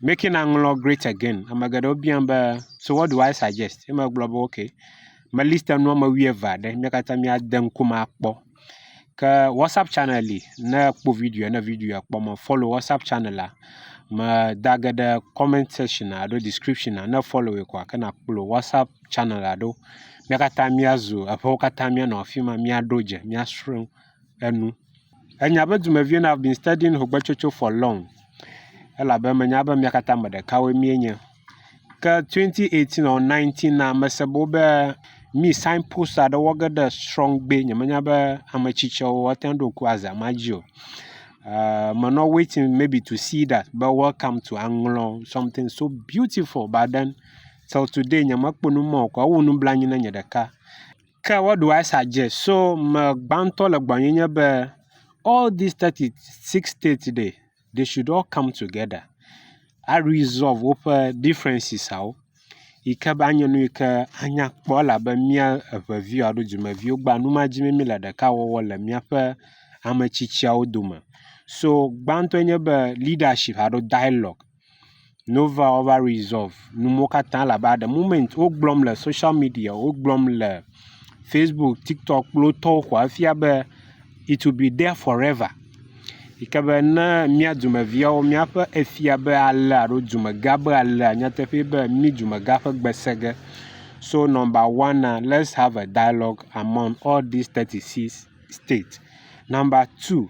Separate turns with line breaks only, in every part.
Making naŋlɔ great again. Ame geɖewo biam be so what do I suggest? Ye megblɔ be ok me list nu wɔme wuieve aɖe mía katã míade ŋkume akpɔ. Ke WhatsApp channel li ne ekpɔ videoa ne videoa kpɔ me follow WhatsApp channel la medage ɖe comment section alo description ne follow koa ke nakplɔ WhatsApp channel la ɖo. Mía katã míazu eƒewo katã míanɔ afi ma míaɖo dze míasrɔ̃ enu. Enya be dumeviwo na I've been studying Hogbechocho for long elabe menya be mia katã ame ɖekawoe mienye. Ke 2018 ɔɔ 19 na mese be wobe mi sign post aɖe wɔ ge ɖe srɔ̃gbe. Nyemenya be ame tsitsiawo woate ŋu aɖo ŋku azã ma dzi o. Eeee menɔ waiting maybe to see that be welcome to aŋlɔ something so beautiful but then till today nyemekpɔ nu ma o koa ewu nublanui na nye ɖeka. Ke woɖo Asa dze so me gbãtɔ le gbɔnyenye be all these thirty six states ɖe they should all come together a resolve woƒe differences awo yi ke be anye nu yi ke anya kpɔ elabe mía eve viwo alo dumeviwo gba nu ma dzi mí le ɖeka wɔwɔ le míaƒe ame tsitsiawo dome. So gbãtɔe nye be leadership alo dialogue. Nova ova resolve nu mɔ katã labe at de moment wogblɔm le social media, wogblɔm le Facebook, TikTok kple wotɔwo koa efia be it will be there forever yi ke be ne mía dumeviawo míaƒe efia be alea alo dumegã be alea nyateƒee be mí dumegã ƒe gbe sẽ ge. So number one-a let's have a dialogue among all these thirty six states. Number two.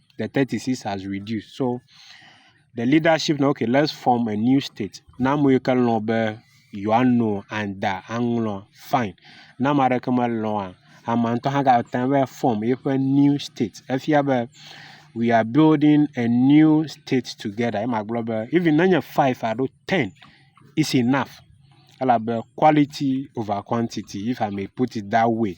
the thirty six has reduced so the leadership na okay let's form a new state na ame yike lɔ̃ be yewoa no anda aŋlɔ fine ne ame aɖeke melɔ̃a amea ŋutɔ hã gate ŋu va form eƒe new state efia be we are building a new state together ye magblɔ be even ne nye five alo ten is enough elabe quality over quantity if I may put it that way.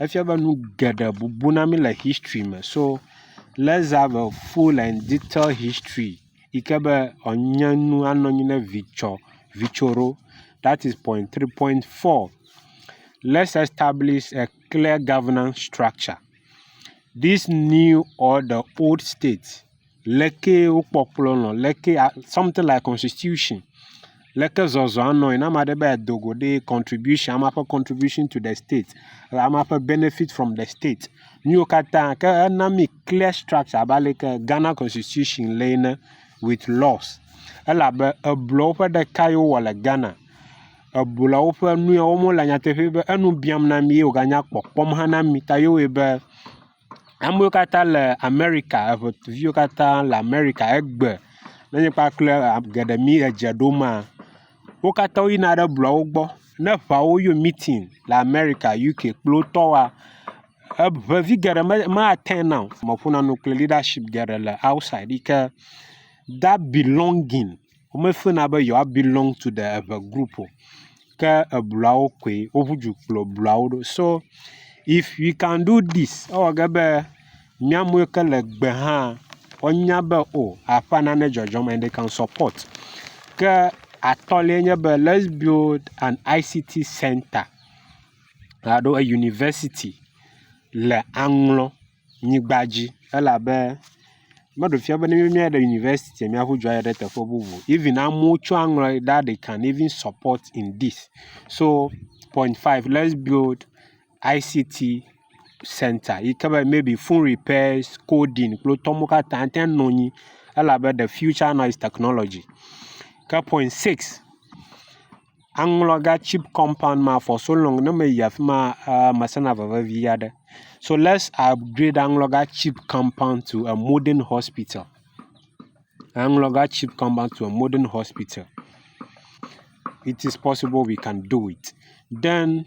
efia be nu geɖe bubu na mí le history me. So let's have a full and detailed history yi ke be enye nu anɔ anyi ne vitsɔ vitso ɖo. That is point three. Point four, let's establish a clear governance structure. This new or the old state leke wokpɔ kplɔ nɔ leke a something like constitution leke zɔzɔa nɔe ne ame aɖe be yeado go ɖee contribution ame ƒe contribution to de state le ame ƒe benefit from de state nu yiwo katã ke ena mi clear structure abe ale yi ke Ghana constitution le ene with laws elabe eblɔwo ƒe ɖeka yi wowɔ le Ghana. Eblawo ƒe nu ya wɔm wo lea nyateƒee be enu biam na mi ye woganya kpɔkpɔm hã na mi ta ye wɔe be amewo katã le Amerika eŋuviwo katã le Amerika egbe enye kpakple geɖe mi edze ɖom maa wo katã woyina ɖe blɔwo gbɔ ne eŋuawo yɔ meeting le Amerika, UK kple wo tɔ woa eŋevi geɖe me attend na o. Meƒona nu kple leadership geɖe le outside yi ke that belonging. wome fina be yewoa belong to the eve group o ke ebluawo koe woƒu du kplɔ ebluawo ɖo so if we can do this ewɔ ge be miamewo ke le gbe hã woanya be o aƒa nane dzɔdzɔm and they can support ke atɔliae nye be let's build an ICT centre alo a university le Aŋlɔ. nyigba dzi elabe meɖe fia be ne míaɖe university mía ƒe dzo ayi ɖe teƒe bubu o. Even amewo tsɔ aŋlɔ ɖe ɖa they can even support in this so point five lets build ICT centre yi ke be maybe phone repairs, coding kple etɔ mawo katã ate ŋu anɔ anyi elabe the future now is technology ke point six. aŋlɔ ga cheap compound ma for so long ne meyi afi ma eee mesena veve vi aɖe. So let's upgrade aŋlɔ ga cheap compound to a modern hospital. Aŋlɔ ga cheap compound to a modern hospital. It is possible we can do it. Then.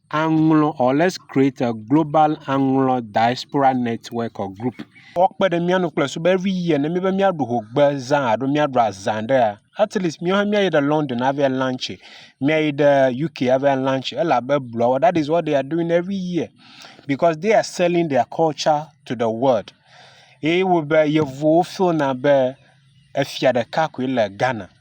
aŋlɔ or let's create a global aŋlɔ diaspora network or group. Wokpe ɖe mía nu kple sube every year ne míebe míaɖu hogbe zã alo míaɖu azã ɖea, at least míawo hã míayi ɖe London ava lunchi, míayi ɖe UK ava lunchi elabe bluawo that is what they are doing every year because they are selling their culture to the world. Eye wo be yevuwo feel na be efia ɖeka koe le Ghana.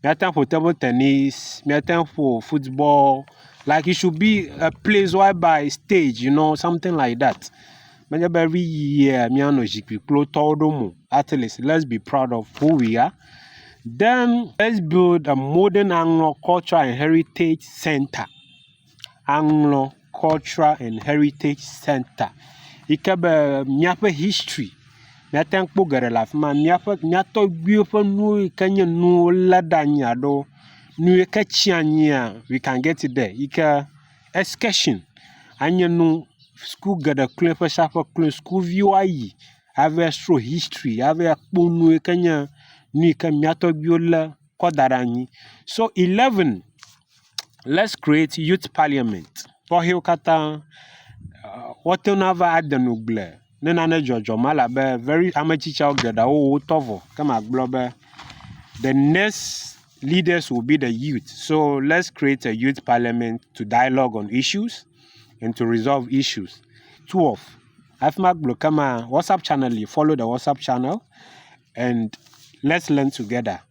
Míate ŋu aƒo table tenis, míate ŋu aƒo football like it should be a place whereby stage you know something like dat. Menye be every year míanɔ zikpui kplo tɔwo ɖom o. At least let's be proud of who we are den let's build a modern aŋlɔ culture and heritage centre aŋlɔ. cultural and heritage center yi ke be míaƒe history míate ŋu akpɔ geɖe le afi ma. Míaƒe mía tɔgbuiwo ƒe nuwo yi ke nye nu wolé ɖe anyi alo nu yi ke tsi anyia we can get it there yi ke excursion anye nu suku geɖe kloe ƒe sia ƒe kloe sukuviwo ayi ava srɔ̃ history ava kpɔ nu yi ke nye nu yi ke mía tɔgbuiwo lé kɔ da ɖe anyi. So eleven. Let's create youth parliament tɔxɛwo katã. Woate ŋu ava ade nu gble ne nane dzɔdzɔ ma elabe very ame tsitsiawo geɖe wo wotɔ vɔ ke magblɔ be the next leaders will be the youth so let's create a youth parliament to dialogue on issues and to resolve issues. Two of hafi magblɔ ke maa WhatsApp channel li follow the WhatsApp channel and let's learn together.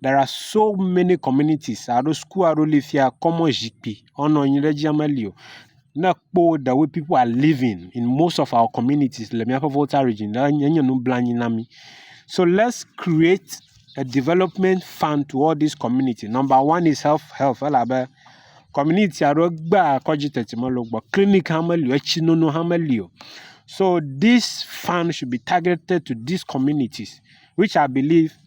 There are so many communities alo suku aɖewo li fi ya kɔmɔ zikpui woanɔ anyi ɖe edzi meli o. Ne èkpɔ wo the way pipu are living in most of our communities le míaƒe Volta Region la enye nublanui na mí. So let's create a development fund to all these community. Number one is health health elabe community aɖewo gbea kɔdzi teti mele wo gbɔ, clinic hã meli o, etsinono hã meli o. So this fund should be targeted to these communities which I believe